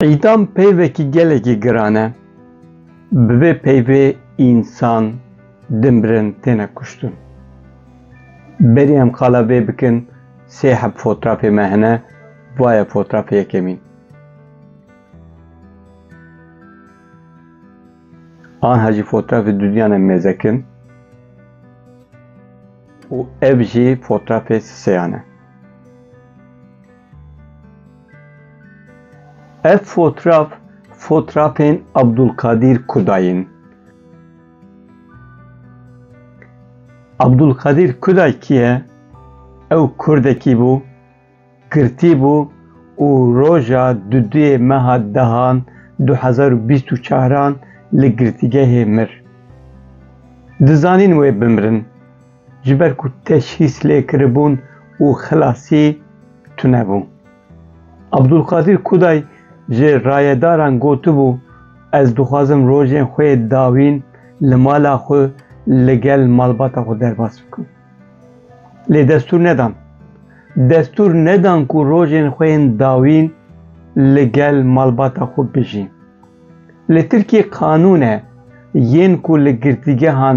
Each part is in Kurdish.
Îdam peyvekî gelekî giran e. Bi vê peyvê însan, dimbirin têne kuştin. Berî em qala vê bikin sê heb fotrafê me hene, va ye fotrafê yekemîn. Anha jî fotrafê dudîyan em mêzekin. û ev jî fotrafê siseyan e. Ev fotraf fotrafên Abdulkadîr Kuday in. Abdulkadîr Kuday kî ye? Ew kurdekî bû girtîbû û roja duduyê meha dehan du hezar û bîst û çaran li girtîgehê mir. Dizanîn wê bimirin ji ber ku teşhîs lê kiribûn û xilasî tune bû. Abdulkadir Kuday ji rayedaran gotibû, Ez dixwazim rojên xwe yê dawîn li mala xwe li gel malbata xwe derbas bikim. Lê destûr nedan. Destûr nedan ku rojên xwe yên dawîn li gel malbata xwe bijî. Li Tirkiyê qanûn e yên ku li girtîgehan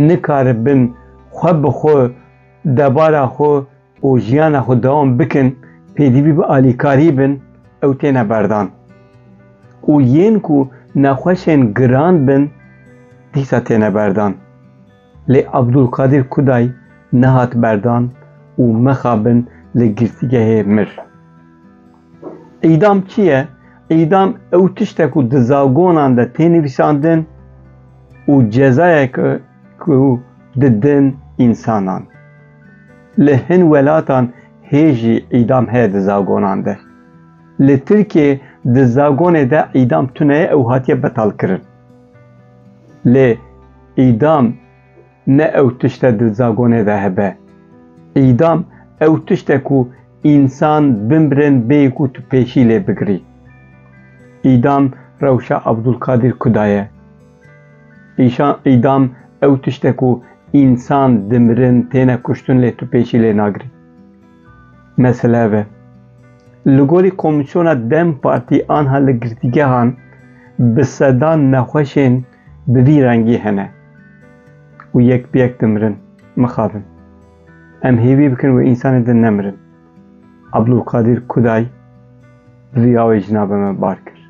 nikaribin xwe bi xwe, debara xwe û jiyana xwe dewam bikin, pêdivî bi alîkarî bin ew têne berdan. Û yên ku nexweşên giran bin dîsa têne berdan. Lê Abdulkadir Kuday nehat berdan û mixabin li girtîgehê mir. Îdam çi ye? Îdam ew tişt e ku di zagonan de tê nivîsandin û cezayek e ku didin însanan. Li hin welatan hê jî îdam heye di zagonan de. Li Tirkiyeyê di zagonê de îdam tune ye ew hatiye betalkirin. Lê îdam ne ew tişt e di zagonê de hebe. Îdam ew tişt e ku însan bimrin bê ku tu pêşî lê bigirî. Îdam rewşa Abdulkadîr Kuda ye. Îşan îdam ew tişt e ku însan dimirin têne kuştin lê tu pêşî lê nagirî. Mesele ev e. Li gorî komîsyona dem partî anha li girtîgehan bi sedan nexweşên bi vî rengî hene û yek bi yek dimirin. Mixabin. Em hêvî bikin wê însanê din nemirin. Abdulkadir Kuday bi vî awê jina bi me bar kir.